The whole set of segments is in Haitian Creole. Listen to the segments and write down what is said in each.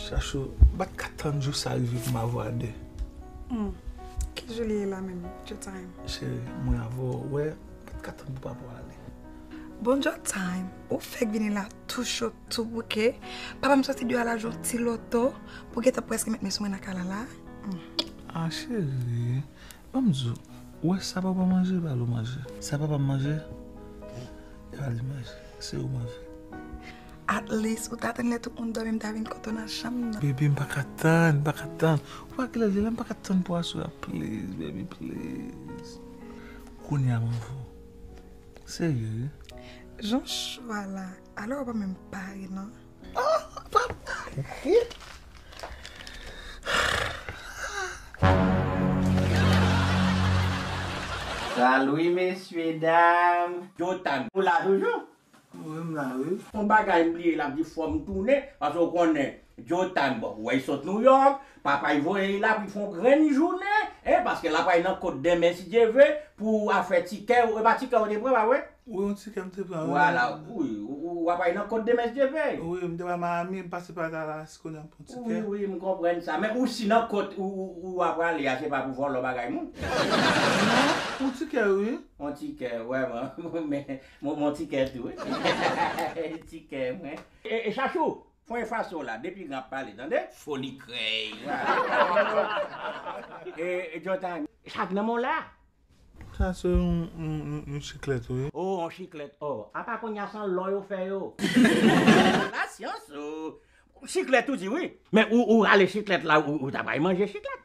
Chachou, m pa t ka tann jou sa rive pou m avè w a de. Humm, ki jou li ye la menm? Djo Time. Cheri, mwen avè w, ou wè, m pa t ka tann pou papa w ale. Bon Djo Time, ou fèk vini la tou cho, tou bouke. Papa m soti deyò al ajoute ti loto pou gentan prèske met men sou mwen nan kay la la. Ah chérie banm di w ou wè sa papa manje bal ou manje sa papa manje epa li manje se ou manje. Atleast ou ta tann lè tout moun dòmi m ta vin kote w nan chanm nan. Bébé m paka tann m paka tann ou pa wè kilè l ye la m paka tann pou aswè a please baby please kounya m anvi w serye wi. Jan chou a la alò ou pa menm pare nan. Salut mesye dam. Yo tag ou la toujou? Wi m la wi. Son bagay m bliye lap di fòm tounen paske ou konnen Joe Tag bon wè li sot New York Papay voye y la pou y fon grenn jounen en paske la pray nan kot denmen si Dye ve pou afè tikè e pa tikè ou te pran pa vre? Wi yon tikè m te pran wi. Vwala wi ou apray nan kot denmen si Dye ve. Wi m te pral Miami m pase pa Dallas kounye a m pran tikè. Wi wi m konprann sa men ou si nan kot ou a prale a se pa pou vòlò bagay moun? Non yon tikè wi. Yon tikè wè man men yon tikè tou wi tikè mwen. E chachou Pwen faso la depi gran ap pale tande. Foli krèy. E John ta. Sak nan menw la. Sa se yon chiklèt wi. Oh yon chiklèt oh. Apa konnya san lò yo fè yo. La science oh. Chiklèt ou di wi. Men ou rale chiklèt la ou ta pral manje chiklèt.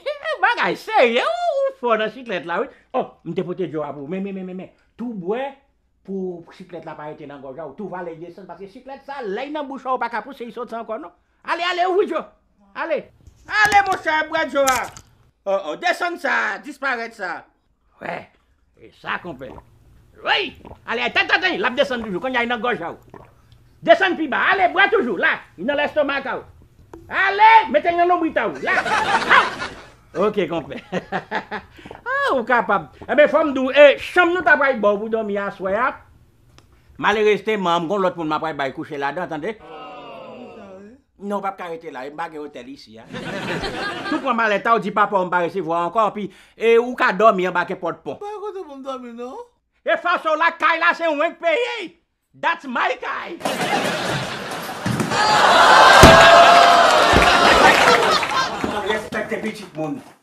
Kèèk bagay serye ooh ou fò nan chiklèt la wi oh m te pote djo a pou ou men men men tou bwè pou chiklèt la pa rete nan gòj a ou tou vale l desann paske chiklèt sa lè y nan bouch ou pa ka pouse y sot san ankò non ale ale ouvri djo ale ale monchè bwè djo a oh oh desann sa disparèt sa. Wè e sa konpè. Woy! Ale ay tèt atè lap desann toujou konnya li nan gòj a ou. Desann pi ba ale bwè toujou la li nan lestomak a ou. Ale mete li nan lonbrit a ou la aw. Ok konpè ah ou kapab enben fòm di w e chanm nou ta pral baw pou dòmi aswè a malerezteman m gon lòt moun m apral bay kouche ladan tande. Non ou pap ka rete la, e m pa gen otèl isi a. Tou pran malèta w di papa w m pa resevwa w ankò anpi e ou ka dòmi anba ke pòt pon. Pa gen kote pou m dòmi non. E fason w lak kay la se wen k peye y, that's my kay. Respecte pitit moun.